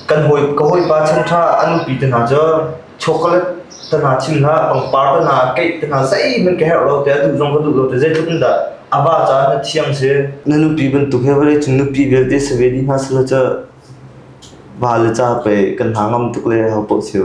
kan hawi ka hawipa chan ṭha an nupi te hna cu chocolate te hna chim hna pangpar te hna keih te hna zeihmanh ka herh lo te a duh zong ka duh lo te zeitluk in dah a ba ca na thiang si na nupi bantuk he vale cun nupi vialte save di hna sila cu va le ca pei kan hna ngam tuk le ha poh siu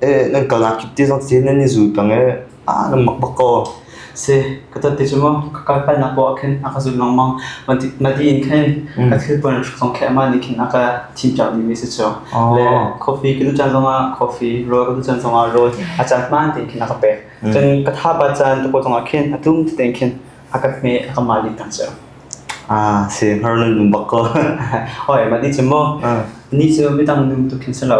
eh nan kal nak kip te zong si nan i zul peng eh ah nan mak bak kaw si ka tat ti cu maw ka kal pal nak ko ah khin a ka zul long mang man ti man ti in khin ka thil pon song khe ma ni khin a ka thim chak ni mi si chu le coffee ka du chan zong a coffee roll ka du chan zong a roll a chan man ti khin a ka pe chan ka tha ba chan to ko zong a khin a tum te khin a ka me a ka ma li tang chu ah si har nun num bak ko oi ma ti chu mo ni chu mi tang num tu khin sa lo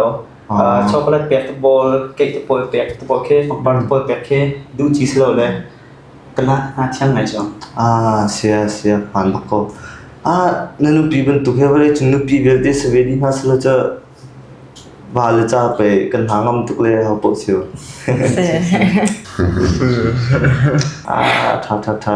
uh, chocolate pek te pawl cake te pawl pek te pawl khi pangpar te pawl pek khi duh chi silo le kala na thiang ngai chong ah sia sia phan bak ko ah na nupi bantuk he vale chung nupi belte save di na sala cha ba le cha pe kan ha ngam tuk le ha po siu ah tha tha tha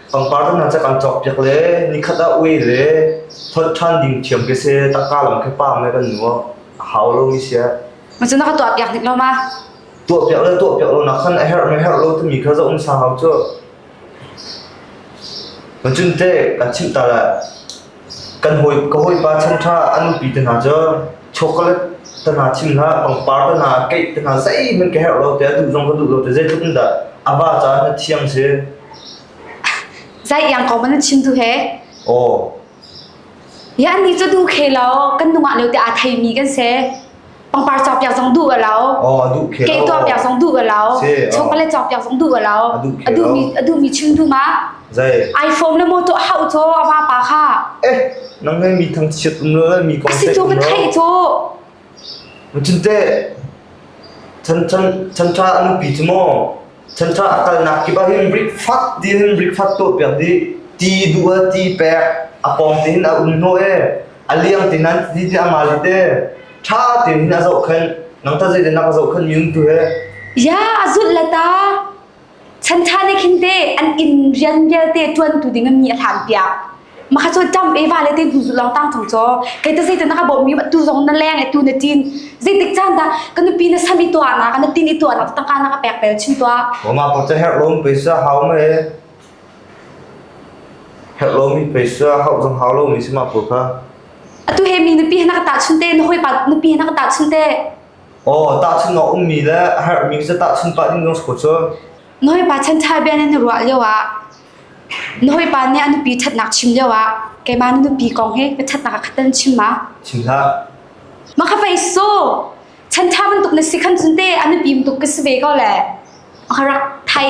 pangpar cu nan cak an cawk piak le nikhat ah ui le thonh ṭhan ding thiam ke se tangka lam khe paam le kan nu a hau lo mi sia ma cu na ka tuah piak dik lo ma tuah piak le tuah piak lo nak khan a herh me herh lo tu mi kha za un sa hau chu ma cun te ka chim ta la Kan hawi ka hawipa chan ṭha a nupi te hna cu chocolate te hna chim hlah, pangpar te hna, keih te hna zeihmanh ka herh lo tiah duh zong ka duh lo tiah zeitluk in dah a va ca na thiam si? Zai iang ko man chim tu he. Aw. Ya ni cu du khe lo kan nungah leo te a thei mi kan se. Pangpar cawk piak zong duh a lo. Oh, a duh khe lo. Keh tuah piak zong duh a lo. Si, oh. Chocolate cawk piak zong duh a lo. A duh khe lo. A duh mi a duh mi chim tu ma. Zai. iPhone na mo to hau cho ama pa kha. Eh, nang ngai mi thang chiat um lo mi kong se. Si tu ka thai cho. Muchin te. Chan chan chan tra anu pi chu mo. Central a kalnak kip ah hin brikfat din brikfat tuah piak dih ti dual ti pek a pom tin a um hnu e a liang tin an ti ti a ma li te tha tin hin a zoh khan nang ta zei nak zoh khan miun tu he ya azul lata chan tha ne khin te an in rian vialte tuan tu ding mi a hlam piak Maka cu dam eva le tin hnu long tang thong cho. Kei ta zei ta naka bom mi ma tu zong na leng e tu na tin. Zei tik chan da ka nupi na sami tua na ka na tin i tua na ta ka na ka pek pel chin tua. Oma ko cha her lom peisa hau ma e. Her lom mi peisa hau zong hau lo mi sima pur kha. Atu he mi nupi na ka ta chun te na hoi pa nupi na ka ta chun te. Oh ta chun no um mi le her mi sa ta chun pa ni nong sko cho. Noi pa chan tha ben na rual yo a. Na hawipa nih a nupi ṭhatnak chim lioah keimah na nupi kong hi ka ṭhatnak ah khat tan chim ma? Chim hlah. Ma kha pei su! Chan ṭha bantuk na si khan cun te a nupi bantuk ka si ve ko le. Ma kha rak thai.